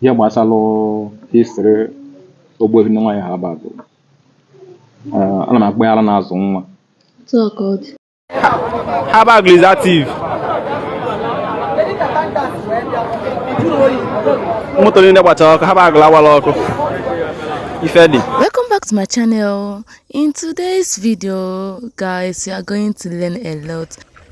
ihe gbasara histrị ogbuefi nne nwaanyị Haba Agụlụ ana m akpọ ya ara na-azụ nwa Haba is active. moto niile gbachara ọkụ Haba lawala ọkụ ife dị welcome back to my channel in today's video guys you are going to learn a lot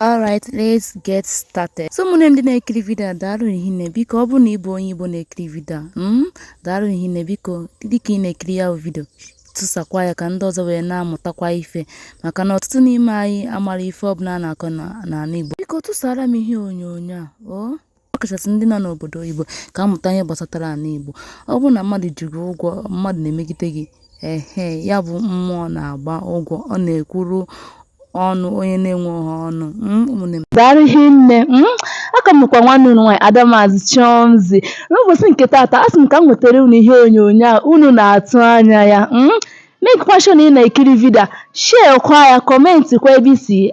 Alright, let's get started. So ụmụnne m ndị na-ekiri vidio a daalụ hinne biko ọ bụrụ na ịbụ onye Igbo na-ekiri vidio a mm, daalụ hinne biko dịka ị na-ekiri ya bụ vidio tụsakwa ya ka ndị ọzọ wee na-amụtakwa ife maka na ọtụtụ n'ime anyị amarọ ife ọbụla a na-akọ n'ala Igbo biko tụsara m ihe onyonyo a o oh. ọkachasị ndị nọ n'obodo oyibo ka ha mụta ihe gbasatara ala Igbo. Ọ bụrụ na mmadụ ji gị ụgwọ, mmadụ na-emegide gị, ehe, ya bụ mmụọ na-agba ụgwọ, ọ na-ekwuru ọnụ onye na-enweghị ọnụ. Mm, ụmụnne m. Daalụ hinne. Mm, aka m bụkwa nwanne unu nwaanyị Ada Maazị Chiomzi. N'ụbọchị nke taata, a sị m ka m wetara unu ihe onyonyo a unu na-atụ anya ya. Mm, make kwa sure na ị na-ekiri vidio a, share kwa ya, kọmentị kwa ebe i si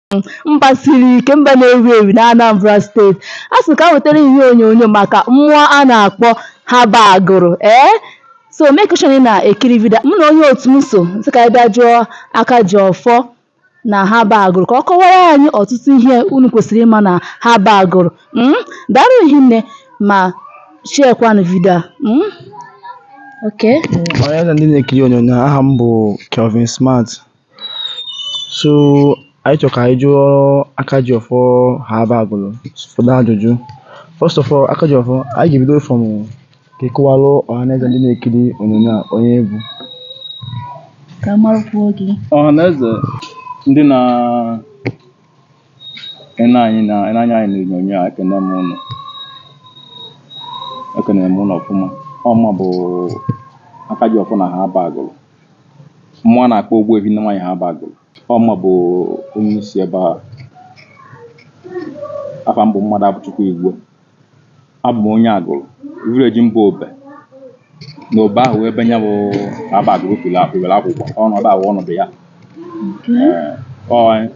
mba siri ike mba na-ewu ewu na Anambra steeti a sị ka m wetara ihe onyonyo maka mmụọ a na-akpọ Haba Agụlụ ee so make sure na-ekiri vidio a mụ na onye otu m so sị ka anyị bịa jụọ Akajiọfọ na Haba Agụlụ ka ọ kọwara anyị ọtụtụ ihe unu kwesịrị ịma na Haba Agụlụ mm? daalụ hinne ma sharekwanụ vidio a mm? okay. Ọhaneze ndị na-ekiri onyonyo aha m bụ Kelvin Smart So anyị chọrọ ka anyị jụọ Akajiọfọ Haba Agụlụ ụfọdụ ajụjụ. First of all, Akajiọfọ, anyị ga-ebido from ka ị kọwalụ ọhaneze ndị na-ekiri onyonyo a onye ị bụ. ka a marụkwuo gị ọhaneze ndị na-ene anyị na-ene anya anyị n'onyonyo a ekene m ụnụ ekenere m ụnụ ọfụma ọ mụwa bụ Akajiọfọ na Haba Agụlụ mmụọ a na-akpọ Ogbuefi nne nwaanyị Haba Agụlụ ọ mụwa bụ onye isi ebe a afa m bụ Mmadụabụchukwu Igwe abụ m onye Agụlụ vileji m bụ Obe na Obe ahụ ebe nya bụ Haba Agụlụ pụrụ apụwere akwụkwọ ọnụ ebe ahụ ọnọdụ ya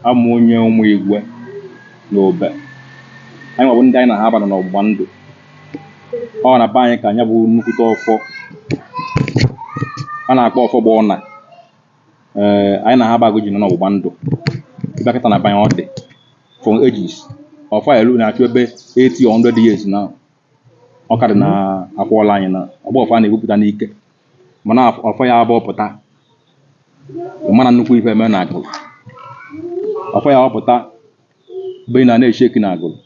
abụ m onye Ụmụigwe na Obe anyị nwa bụ ndị anyị na Haba nọ n'ọgbụgba ndụ ọ na be anyị ka nya bụ nnukwute ọfọ a na-akpọ ọfọ gba ọna ee anyị na Haba Agụlụ ji nọ n'ọgbụgba ndụ ịbịakọta na be anyị ọ dị from ages ọfọ a elu na-achụ ebe 80 or 100 years na ọ ka dị na akwụọla anyị na ọ bụrọ ọfọ a na-ebupụta n'ike mana ọfọ ya bupụta mana nnukwu ife eme na akụ ọfọ ya ọpụta mgbe ị na-eche eki na agụrụ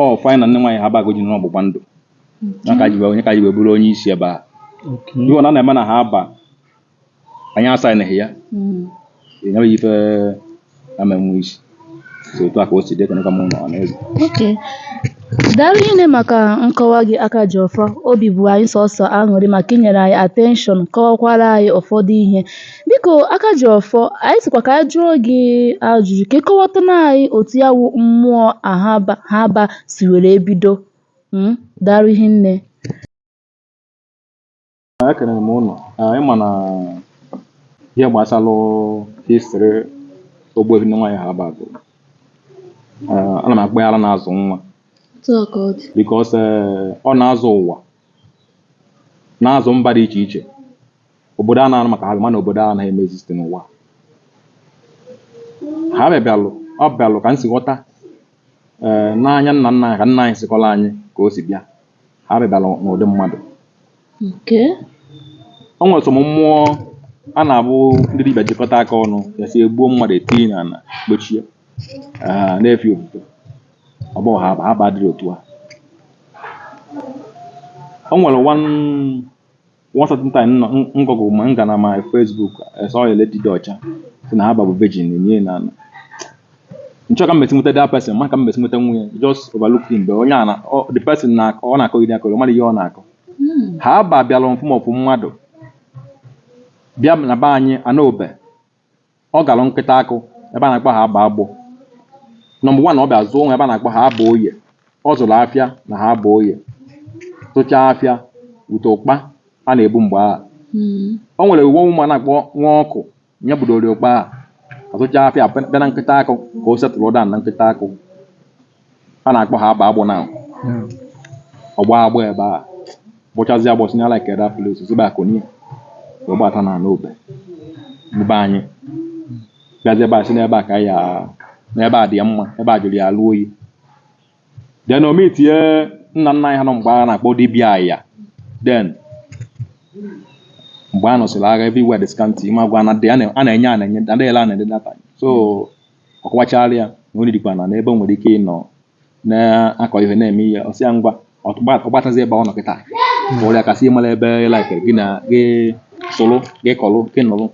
ọ fanyị na nne nwaanyị ahaba ji nọ n'ọgbụgba ndụ ya ka ji wee onye ka ji wee bụrụ onye isi ebe a ihe ọ na na-eme na ahaba anyị asaịnịghị ya enyeghị ife ama enwe isi so otu a ka o si dị ka nka mụ na ọ na-eze okay daalụ rinne maka nkọwa gị aka ji ọfọ obi bụ anyị sọsọ aṅụrị maka inyere anyị attention kọwakwara anyị ụfọdụ ihe Biko aka ji ọfọ, anyị sịkwa ka anyị jụọ gị ajụjụ ka ị kọwatụrụ anyị otu ya wụ mmụọ a ahaba si were bido. Mm, Daalụ rinne. ekelere m unu Ee, ị ma na ihe gbasara history ogbuehi nne nwaanyị ahaba ee, ana m akpọ ya ara na-azụ nwa Otu a ka ọ dị. because ọ na-azụ ụwa na-azụ mba dị iche iche obodo a na-anụ maka ha mana obodo a anaghị emezi site n'ụwa ahaba bịalụ ọ bịalụ ka m si ghọta ee n'anya nna nna anyị ka nna anyị si kọọlụ anyị ka o si bịa ahaba bịalụ n'ụdị mmadụ nke o nwere some mmụọ a na-abụ ndị dibịa jikọta aka ọnụ ya sị egbuo mmadụ etinye na ala kpochie ee na-efe ofufe ọ bụ ahaba adịrọ otu a o nwere one One certain time nọ ngọgụ ma nga na my Facebook esọ ya leti dị ọcha sị na ahaba bụ virgin nye na na nchọ ka mmesi nweta that person ma ka mmesi nweta nwunye just overlook him but onye a na ọ- the person na ọ na-akọ gị akọ ọ mara ihe ọ na-akọ ahaba bịara in form of mmadụ bịa na be anyị anaobe ọ gara nkịta akụ ebe a na-akpọ ahaba agbọ number one ọ bịa zụọ o nwee ebe a na-akpọ ahaba oye ọ zụrụ afịa na ahaba oye zụchaa afịa bute ụkpa a na-ebu mgbe ahụ mm. o nwere uwe ụmụ a na-akpọ nwa ọkụ nye budori ụkpa ahụ azụchaa afịa bịa na nkịta akụ ka o setụrụ down na nkịta akụ a na-akpọ ahaba agbọ na ọgba agbụ ebe a gbụchazi agbọsị na like that place si ebe a kunie wee gbata na n'obe ebe anyị bịazi ebe a sị na ebe a ka ya na ebe a dị ya mma ebe a jụrụ ya alụ oyi then o metie nna nna anyị ha nọ mgbe a na-akpọ dibịa ya then mgbe a nụsịrị agha everywhere dị scanty ma gwa na dị a na- a na-enye a na-enye adịghịla a na-ede data so ọ kọwachara ya na onye dịkwa na n'ebe o nwere ike ịnọ na-akọ ihe na-eme ihe ọ sị ya ngwa ọgbatazi ebe ọ nọ kịta kpọrọ ya kasị ịmara ebe ị laikere gị na gị soro gị kọrọ gị nụrụ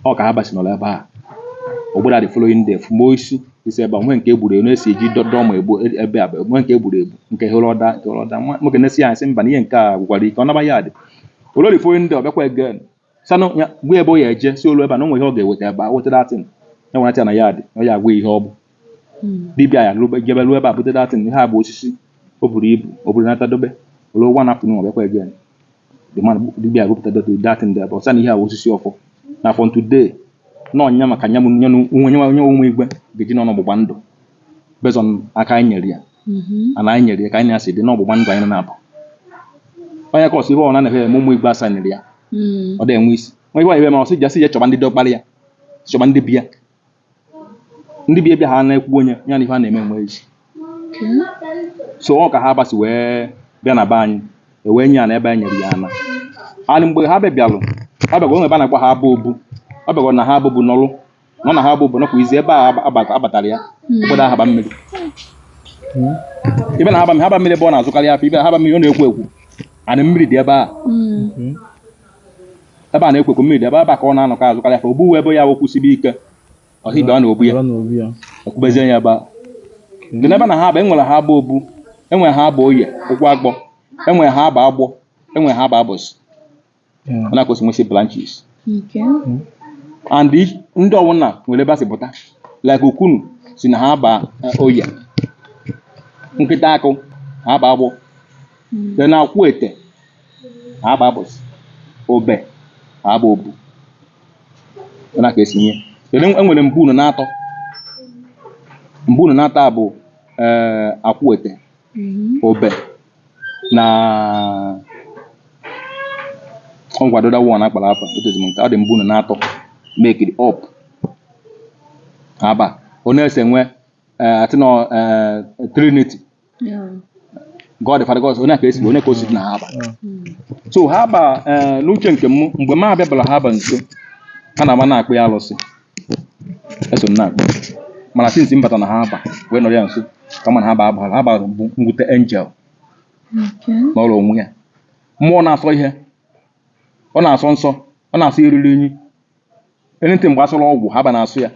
ọ ka ahaba si nọrọ ebe a ogbera the following day fụma osisi ebe a nwee nke egburu egbu na-esi eji dọdọ ma egbu ebe a nwee nke egburu egbu nke hụrụ ọda nke hụrụ ọda nwoke na-esi ya asị mba na ihe nke a gwụkwara ike ọ naba ya dị olori following day ọ bịakwa again sanụ ya gwa ebe ọ ya eje si olu ebe a na o nwere ihe ọ ga-eweta ebe a weta that thing ya nwere na ya dị ọ ya agwa ihe ọ bụ dibịa ya lụbe jebe ruo ebe a bute that thing ihe a bụ osisi o buru ibu o buru nata dobe olu ụgwọ na afụnụ ọbịakwa ege dibịa agụpụta that thing dị ebe ọ sị na ihe a bụ osisi ọfọ na afọ ntude na ọnya maka nya nwe nyenwe onwe igwe ga-eji n'ọnụ ọgbụgba ndụ based on aka anyị nyere ya mhm. mana anyị nyere ya ka anyị asị dị n'ọgbụgba ndụ anyị na-abụ onye kọsị ibe ọ na-anaghị eme ụmụ igbo asaa nyere ya mhm. ọ dị enwe isi nwa ibe ibe ma ọsị jasị ya chọba ndị dọkpara ya chọba ndị bịa ndị bịa bịa ha na-ekwu onye ya na ihe a na-eme enwe isi so ọ ka ha gbasi wee bịa na be anyị ewee nye ya na ebe anyị nyere ya ana anyị mgbe ha bịabịalụ ha bịagwa o nwe ebe a na-akpọ haba obu ọ bịagwa na haba bụ n'ọlụ na ọ na haba bụ obodo kwa izi ebe a agbata- abatara ya obodo haba mmiri ibe na haba haba mmiri ebe ọ na-azụkarị afọ ibe na haba mmiri ọ na-ekwo ekwo ana mmiri dị ebe a ebe a na-ekwo ekwo mmiri dị ebe ebe a ka ọ na-anọkọ azụkarị afọ ogbuwe ebe ya wokwu sibe ike ọha ibe ọ na ogbu ya Ọla na obi ya. ekwubezie ya ebe a dị n'ebe na haba e nwere haba obu e nwere haba oye ụkwụ agbọ e nwere haba agbọ e nwere haba abụsị ọ na ka o si nwesị branches Okay. and each- ndị ọwụna nwere ebe a si pụta like ukunu si na haba eh, oye nkịtaakụ haba agbọ dị na akwụ ete haba abụsị obe haba obu Ọ na ka esi nye kedu e nwere mbu unu na-atọ mbu unu na-atọ a bụ eh, akwụ ete Mhm. obe na ọ nkwado da wan akpara akpa etozi m nke adị mbụ na n'atọ make it up haba ọ na-ese nwe eh, atị nọ eh, trinity god father god ọ nya ka e si ọ nya ka o si dị na haba so haba eh, n'uche nke m mgbe m abịabara haba nso ha na-ama na-akpọ ya alụsị e so m na-akpọ mana since m bata na haba wee nọrọ ya nso ka m ma na haba agbara haba bụ mwute angel nọọrọ onwe ya mmụọ na-asọ ihe ọ na-asọ nsọ ọ na-asọ eriri enyi anything gbasara ọgwụ haba na-asọ ya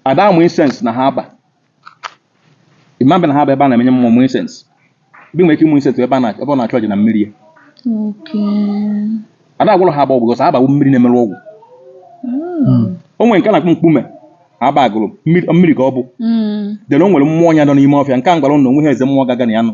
a da-amụ incense na haba ị ma bịa na haba ebe a na-emenye mmụọ mụ incense but i nwere ike ịmụ incense ebe a na- ebe ọ na-achụ aja na mmiri ya Okay. a da-agwọrọ haba ọgwụ cos haba wụ mmiri na-emerụ ọgwụ Mm. o nwere nke a na-akpọ mkpume haba agụlụ mmiri mmiri ka ọ bụ Mm. then o nwere mmụọ ya nọ n'ime ọfịa nke a m gwara ụnụ onwe ha eze mmụọ gaga na ya nọ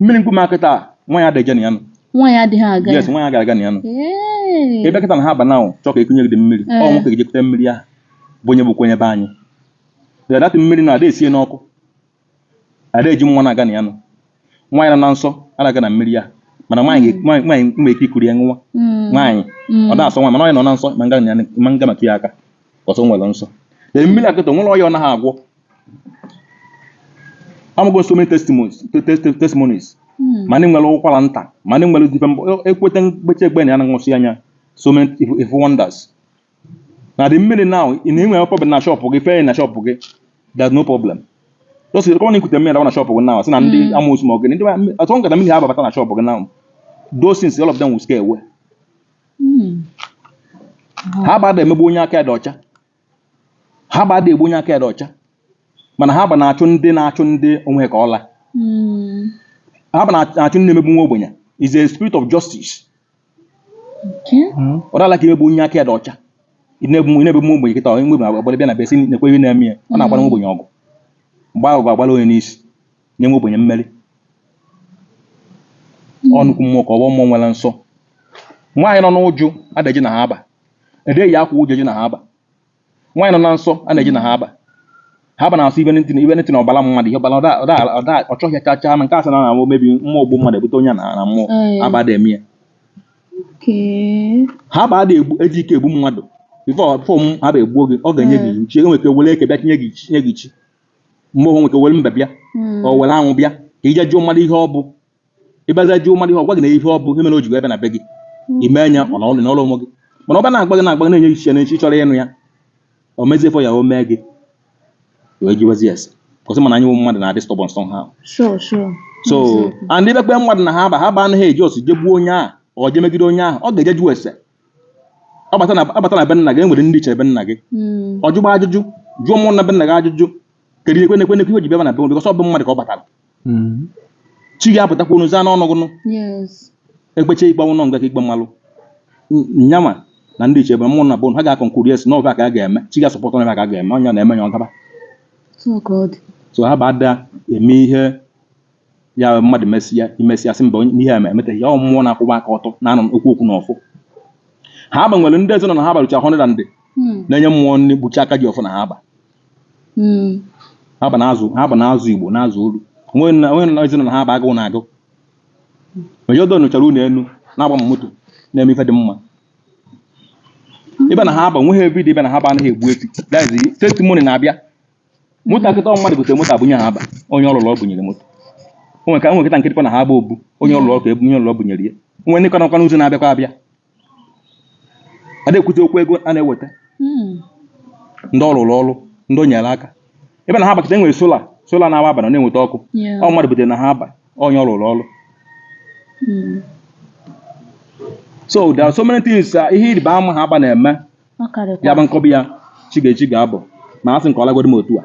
mmiri nkume a kịta a nwaanyị adịghị na ya nụ nwaanyị adịghị aga ya yes nwaanyị agaghị aga na ya nụ Ee. ị bịa kịta na Haaba na ahụ chọọ ka e kunye gị dị mmiri Ee. ọ nwoke ga-eje kuta mmiri ahụ bụ onye bụkwa onye be anyị ya data mmiri na ada esi ya n'ọkụ ada eji nwa na-aga na ya nụ nwaanyị nọ na nsọ ada aga na mmiri ya mana nwaanyị ga- nwaanyị nwaanyị nwere ike ikuru ya nwa Mm. nwaanyị Mm. ọ na-asọ nwa mana onye nọ na nsọ ma nga na ya- ma nga metụ ya aka cos o nwere nsọ ee mmiri a kịta nwerọ ọya ọ naghị agwọ anụgo so many testimonies te- te- te- testimonies Mm. ma ndị nwere ụkwara nta ma ndị nwere dibe mbọ ekweta mkpecha egbe na ya na-anwụsị anya so many ife, ife wonders na the mmiri now ị na-enwe problem na shop gị fee na shop gị there's no problem just common ikute mmiri dọwa na shop gị now sị na ndị amụsụ ma ọ gị ndị ma- atọ nkata mmiri Haaba bata na shop gị now those things all of them will scare away Mm. Haaba ada emegbu onye aka ya dị ọcha Haaba ada egbu onye aka ya dị ọcha mana Haaba na-achụ ndị na-achụ ndị o nwe ka ọ la Mm. Haaba na-achụ ndị na-emegbu nwa ogbenye is a spirit of justice Okay. ọ dala ka emegbu onye aka ya dị ọcha ị na-egbu ị na-egbu nwa ogbenye kịta nwa ogbenye gbara bịa na be ya sị nekwe ihe a na-eme ya ọ na-agbara nwa ogbenye ọgụ mgbe ahụ ga-agbara onye n'isi nye nwa ogbenye mmeri ọ nnukwu mmụọ ka ọ bụ mmụọ nwere nsọ nwaanyị nọ n'uju ada eje na Haaba ada eyi akwa uju eje na Haaba nwaanyị nọ na nsọ ada eje na Haaba Haaba na-asọ ibe ntị na ibe ntị na ọbara mmadụ ihe ọbara ọda- ọda- ọda- ọ chọghị ya chachaa na nke asị na na omebi mmụọ ogbu mmadụ ebute onye na na mmụọ Ee. Haaba ada eme ya Okay. Haaba ada egbu eji ike egbu mmadụ before before m Haaba egbuo gị ọ ga-enye gị iwu chi o nwere ike were eke bịa tinye gị ichi- tinye gị ichi mgbe o nwe ike were mbe bịa hmm. o were anwụ bịa ka i je jụọ mmadụ ihe ọ bụ ịbaza jụọ mmadụ ihe ọ gwa gị na ihe ọ bụ ihe mere o ji wee bịa na be gị hmm. i mee ya ọ na ọrụ nọrọ onwe gị mana ọ bịa na-agba gị na-agba gị na-enye iche na echi chọrọ ịnụ ya o mezie ife ọ ya-eme gị wee jiwezi ese kwụsị mana anyị nwe mmadụ na-adị stubborn sọ ha so andị bekpe mmadụ na Haaba Haaba anaghị eji ọsịsọ egbu onye ahụ ọ ga-emegide onye ahụ ọ ga-eje jụọ ese ọ bata na ọ bata na be nna gị e nwere ndị ichie be nna gị Mm. ọ jụgba ajụjụ jụọ mmụọ na be nna gị ajụjụ kedu ihe nekwe nekwe ihe o ji bịaba na be m because ọ bụ mmadụ ka ọ batara Mm. chi gị apụtakwa unu zaa n'ọnụ gụnụ Yes. e kpechaa ikpe ọnwụ nọ nga ka ikpe malụ N- nyanwa na ndị ichie be mmụọ na be unu ha ga-concur yes na ọ bụ ka a ga-eme chi gị a-support na ka a ga-eme ọnya na-eme ya ọ gaba So God. so Haaba ada eme ihe ya bụ mmadụ mesịa imesịa sị mba onye- n'ihe a ma emeteghị ya ọ mmụọ na-akwụwa aka ọtọ na-anọ okwu okwu na ọfọ Haaba nwere ndị eze nọ na Haaba ruchaa 100 ndị Mm. na-enye mmụọ nri gbuchi aka ji ọfọ na Haaba Mm. Haaba na-azụ Haaba na-azụ igbo na-azụ olu o nwe na o nwe na ezinụlọ Haaba agụụ na-agụ ụfọdụ rụchara ụnọ enu na-agba ma moto na-eme ife dị mma ị bịa na Haaba nweghị ụbọchị ị bịa na Haaba anaghị egbu efi that is testimony na-abịa moto a kịta ọ mmadụ gotere moto a bunye Haaba onye ọ lụlụ ọ bunyere moto o nwere ka nwe nkịta nkịtịkwa na Haaba ọ bụ onye ọ lụlụ ọka onye ọ lụlụ ọ bunyere ya nwe ndị ka nọkwa n'ụzọ na-abịakwa abịa a na-ekwute okwu ego a na-eweta Mm. ndị ọ lụlụ ọlụ ndị o nyere aka ebe na Haaba kịta e nwere sola sola na-awa abalị ọ na-enweta ọkụ Yeah. ọ mmadụ butere na Haaba onye ọ lụlụ ọlụ Mm. so there are so many things uh, ihe ịrịba ama Haaba na-eme ya bụ nkọbi ya chi ga-echi ga-abụ ma a sị nke ọ lagodi m otu a